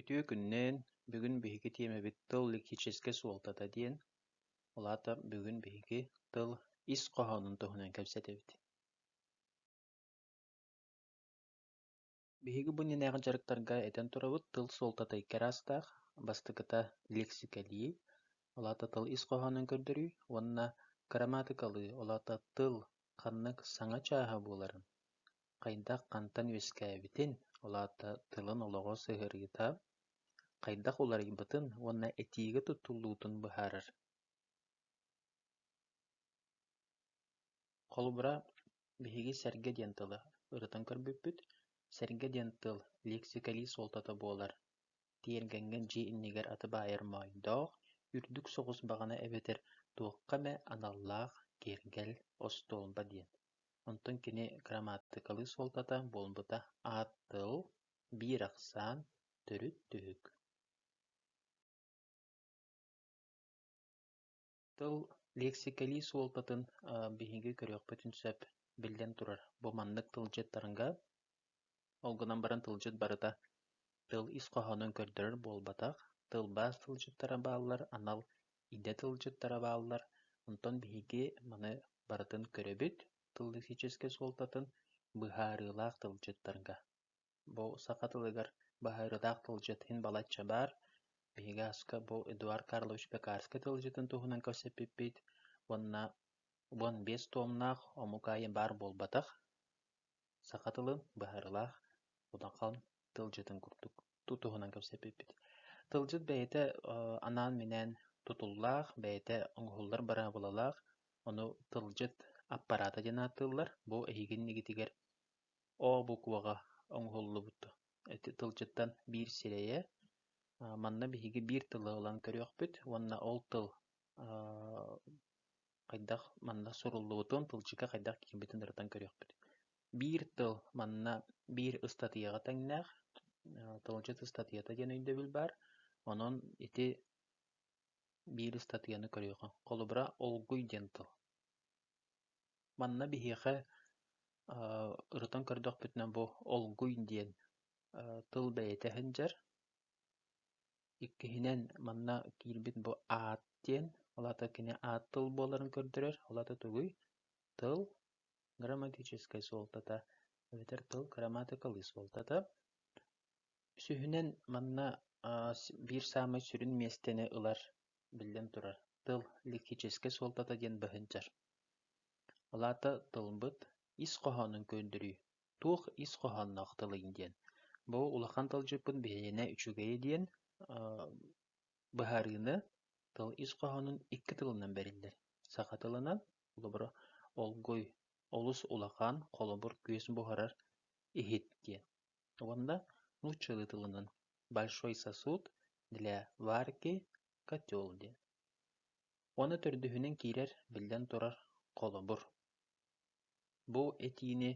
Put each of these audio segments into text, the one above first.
Үтүө күннээн, бүгүн биһиги тиэмэбит тыл лексическэй суолтата диэн, ол аата бүгүн биһиги тыл ис хоһоонун туһунан кэпсэтэбит. Биһиги бу иннинээҕи дьарыктарга этэн турабыт тыл суолтата икки араастаах, бастакыта лексикалии, ол аата тыл ис хоһоонун көрдөрүү, уонна грамматикалыы, ол аата тыл ханнык саҥа чааһа буоларын. хайдах-хантан үөскээбитин, ол аата тылын олоҕо сыһыарыыта хайдах уларыйбытын уонна этиигэ туттуллуутун быһаарар. Холобура, биһиги сэргэ диэн тылы ырытан көрбүппүт. Сэргэ диэн тыл лиэксикэлии суолтата буолар. Тиэргэҥҥэ дьиэ иннигэр аты баайар моойдоох, үрдүк соҕус баҕана эбэтэр туохха эмэ аналлаах киэргэл, остуолба диэн. Онтон кини кырамааттыкалыы суолтата буолбута аат тыл, биир ахсаан, төрүт түһүк Тыл лиэксикэлии суолтатын биһиги көрүөхпүтүн сөп. Биллэн турар, бу маннык тылдьыттарга Ол гынан баран тылдьыт барыта тыл ис хоһоонун көрдөрөр буолбатах, тылбаас тылдьыттара бааллар, анал идэ тылдьыттара бааллар, онтон биһиги маны барытын көрөбүт тыллисическэй суолтатын быһаарыылаах тылдьыттарга. Бу саха тылыгар быһаарыылаах тылдьыт иһин балачча баар. Биһиги аска бу Эдуард Карлович Пекарский тылдьытын туһунан кэпсэппиппит уонна уон биэс туомнаах омук аайы баар буолбатах. Саха тылын быһаарыылаах удахан тылдьытын курдук туһунан кэпсэппиппит. Тылдьыт бэйэтэ анаан-минээн тутуллаах, бэйэтэ оҥоһуллар быраабылалаах, ону тылдьыт аппараата диэн ааттыыллар. Бу эһиги иннигитигэр О букваҕа оҥоһуллубут тылдьыттан биир сирэйэ. Манна биһиги биир тылы ылан көрүөхпүт уонна ол тыл хайдах манна суруллубутун, тылдьыга хайдах киирбитин ырытан көрүөхпүт. Биир тыл манна биир ыстатыйаҕа тэҥнээх, тылдьыт ыстатыйата диэн өйдөбүл баар. Онон ити биир ыстатыйаны көрүөххэ. Холобура, «Олгуй» диэн тыл. Манна биһиэхэ ырытан көрдөхпүтүнэ бу «Олгуй» диэн тыл бэйэтэ сылдьар. Иккиһинэн, манна киирбит бу аат диэн, ол аата кини аат тыл буоларын көрдөрөр, ол аата тугуй? Тыл – грамматическай суолтата эбэтэр тыл – грамматикалыы суолтата. Үсүһүнэн, манна биир саамай сүрүн миэстэни ылар, биллэн турар, тыл – лексическэй суолтата диэн быһынчар. Ол аата тылбыт ис хоһоонун көрдөрүү. туох ис хоһоонноох тылый диэн, бу улахан тылдьыппыт биһиэнэ үчүгэйэ диэн быһаарыыны тыл ис хоһоонун икки тылынан бэриллэр. Саха тылынан, холобура, олгуй, олус улахан, холобур, күөс буһарар, иһит диэн. Уонна нууччалыы тылынан большой сосуд для варки котел диэн. Уонна төрдүһүнэн киирэр, биллэн турар, холобур. Бу этиини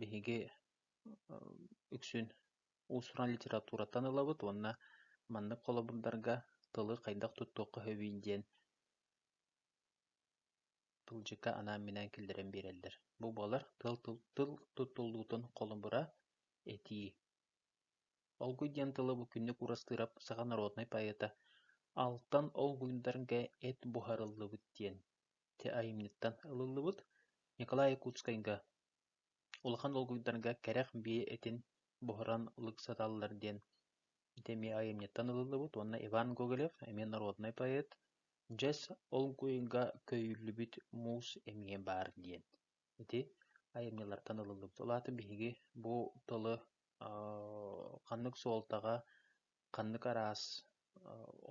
биһиги үксүн уус-уран литератураттан ылабыт уонна маннык холобурдарга тылы хайдах туттуохха сөбүй диэн тылдьыкка анаан-минээн киллэрэн биэрэллэр. Бу буолар тыл тыл туттуллуутун холобура этии. Олгуй диэн тылы бу күннүк Уурастыырап саха норуодунай поэта алтан олгуйдарга эт буһарыллыбыт диэн Те айымньыттан ылыллыбыт Николай Якутскайга улахан долгуйдарга кэрэх биэ этин буһаран ылык сатааллар диэн ити эмиэ айымньыттан ылыллыбыт уонна Иван Гоголев эмиэ норуодунай поэт дьэс олгуйга көйүллүбүт муус эмиэ баар диэн ити айымньылартан ылыллыбыт ол аата биһиги бу тылы ханнык суолтаҕа ханнык араас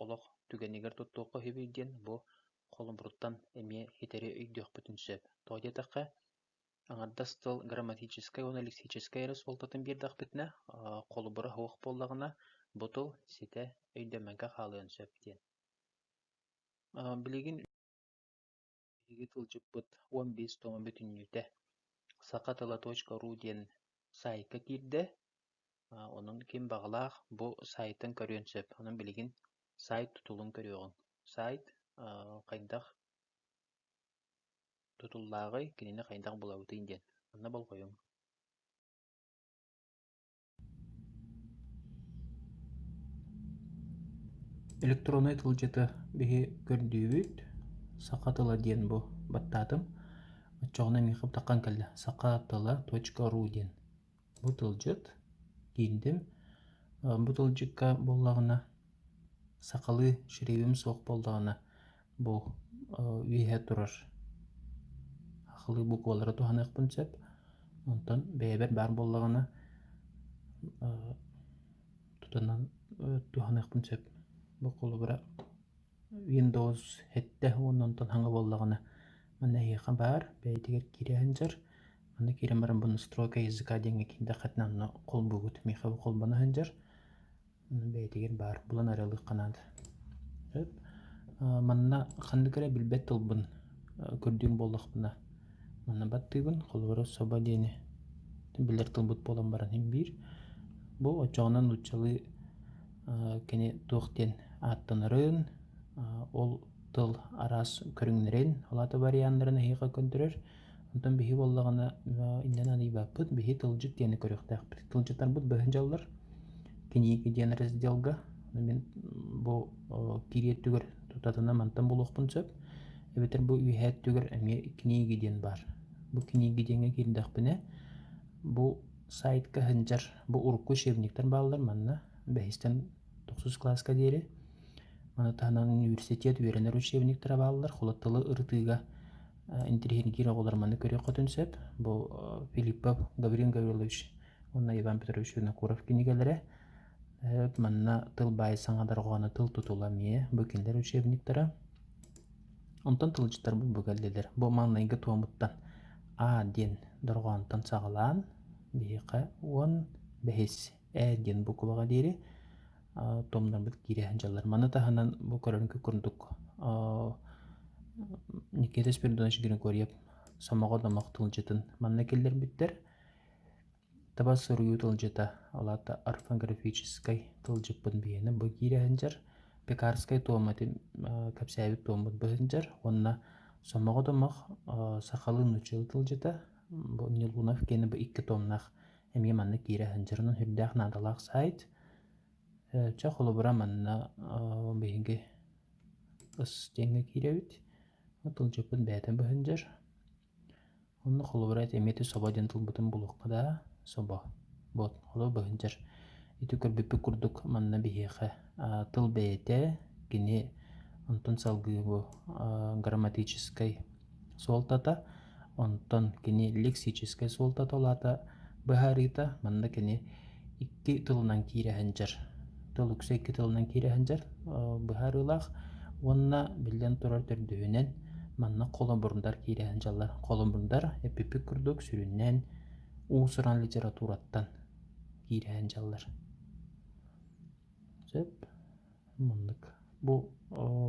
олох түгэнигэр туттуохха үһүбүй диэн бу холобуруттан эмиэ итэри өйдүөхпүтүн сөп. Тоҕо диэтэххэ, аҥардас тыл грамматическай уонна лексическэй эрэ суолтатын биэрдэхпитинэ, холобура суох буоллаҕына, бу тыл ситэ өйдөммөккө хаалыан сөп диэн. Билигин Биһиги тылдьыппыт уон биэс туома бүтүннүүтэ саха тыла точка ру диэн саайка киирдэ. Онон ким баҕалаах бу саайтын көрүөн сөп. Онон билигин сайт тутулун көрүөҕүҥ. Сайт хайдах тутуллааҕый, кинини хайдах булабытый диэн. Манна болҕойуҥ. электроннай тылдьыты биһи көрдүүбүт саха тыла диэн бу баттаатым оччоҕуна миэхэ бытархан кэллэ саха тыла точка ру диэн бу тылдьыт киирдим бу тылдьыкка буоллаҕына сахалыы шеревим суох буоллаҕына бу үөһэ турар хахылыы буквалары туһаныахпын сөп онтон бэйэбэр баар буоллаҕына тутанан туһаныахпын сөп бу холобура windows сэттэ уонна онтон саҥа буоллаҕына манна эһиэхэ баар бэйэтигэр киирэ сылдьар манна киирэн баран бу настройка языка диэҥҥэ киирдэххитинэ онно холбуугут миэхэ бу холбоно сылдьар бэйэтигэр баар булан арыалыахха наада сөп манна ханнык эрэ билбэт тылбын көрдүүм буоллахпына манна баттыыбын холобура соба диэни билэр тылбыт буолан баран иһин биир бу оччоҕуна нууччалыы кини туох диэн ааттанарын ол тыл араас көрүҥнэрин ол аата варианнарын эһиэхэ көрдөрөр Онтон биһи буоллаҕына иннинэ аньыйбаппыт, биһи тылдьыт диэни көрүөхтээхпит. Тылдьыттарбыт быһын дьаллар книги диэн разделга мин бу кириэ өттүгэр тутатына мантан булуохпун сөп эбэтэр бу үөһээ өттүгэр эмиэ книги диэн баар бу книги диэҥҥэ киирдэхпинэ бу сайтка сылдьар бу урукку учебниктар бааллар манна бэһистэн тохсус кылааска диэри маны таһынан университет үөрэнэр учебниктара бааллар холо тылы ырытыыга интеллигентиир оҕолор манна көрүөх-хотун сөп. Бу Филиппов Гаврил Гаврилович уонна Иван Петрович Винокуров кинигэлэрэ. Манна тыл баай саҥа дарҕооно тыл тутула эмиэ бу кинилэр учебниктара. Онтон тылдьыттарбыт бу кэллилэр. Бу маҥнайгы туомуттан А диэн дорҕоонтон саҕалаан биһиэхэ уон бэһис ээ диэн бу кулаҕа диэри томнорбут киирэ дьаллар. Маны таһынан бу көрөргө курдук Никита Спиридонович Григорьев сомоҕо домох тылдьытын манна киллэрбиттэр. Таба суруйуу тылдьыта, олаата орфографическай тылдьыппын биһиэнэ бу киирэ сылдьар. Пекарскай туомати кэпсээбит туоммут бу сылдьар уонна сомоҕо домох сахалыы нуччалыы тылдьыта. Бу Нелунов киэнэ бу икки томнаах эмиэ манна киирэ сылдьарынан сүрдээх наадалаах саайт. Чэ, холобура манна биһиги ыс диэҥҥэ киирэбит. Тылдьыппыт бэйэтэ быһындьар. Онно холобура эмиэ ити собо диэн тылбытын булуохха да собо. Вот, оло быһындьар. Ити көрбүппүт курдук манна биһиэхэ тыл бэйэтэ, кини онтон салгыы бу грамматическай суолтата, онтон кини лексическэй суолтата улаата быһаарыыта, манна кини икки тылынан киирэ сылдьар, тыл үксэ икки тылынан киирэ сылдьар быһаарыылаах уонна биллэн турар төрдүһүнэн манна холобурдар киирэ сылдьаллар. Холобурдар эпипик курдук сүрүннээн уус-уран литератураттан киирэ сылдьаллар. Сөп. Муннук. Бу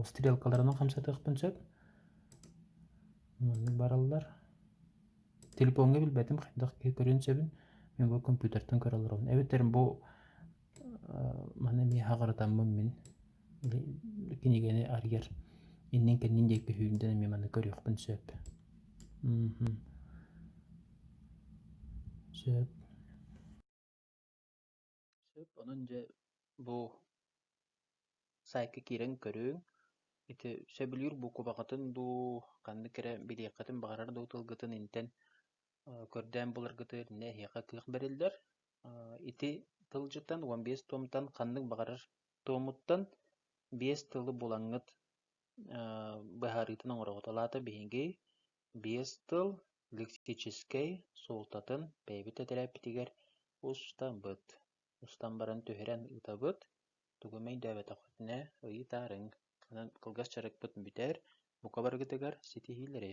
стрелкаларынан хамсатыахпын сөп. Маннык бараллар. Телефоҥҥа билбэтим, хайдах киһи көрүөн сөбүн. Мен бу компьютертан көрө олоробун. Эбэтэр бу маны эмиэ хаҕырытаммын мин кинигэни арыйар иннин-кэннин диэки сүүрдэн эмиэ маны көрүөхпүн сөп. Сөп. Сөп, онон дьэ бу саайтка киирэн көрүҥ. Ити сөбүлүүр буукубаҕытын дуу, ханнык эрэ билиэххитин баҕарар дуу тылгытын интэн көрдөөн буларгытыгар иннинэ эһиэхэ кыах бэриллэр. Ити тылдьытан уон биэс туомтан ханнык баҕарар туомуттан биэс тылы булаҥҥыт быһаарыытын оҥороҕут. Ол аата биһиги Биэс тыл лексическэй суолтатын бэйэбит этэрээппитигэр устабыт. Устан баран түһэрэн ытабыт. Тугу эмэ өйдөөбөтөххүтүнэ ыйытаарыҥ. Онон кылгас дьарыкпыт бүтэр. Бука барыгытыгар ситиһиилэри!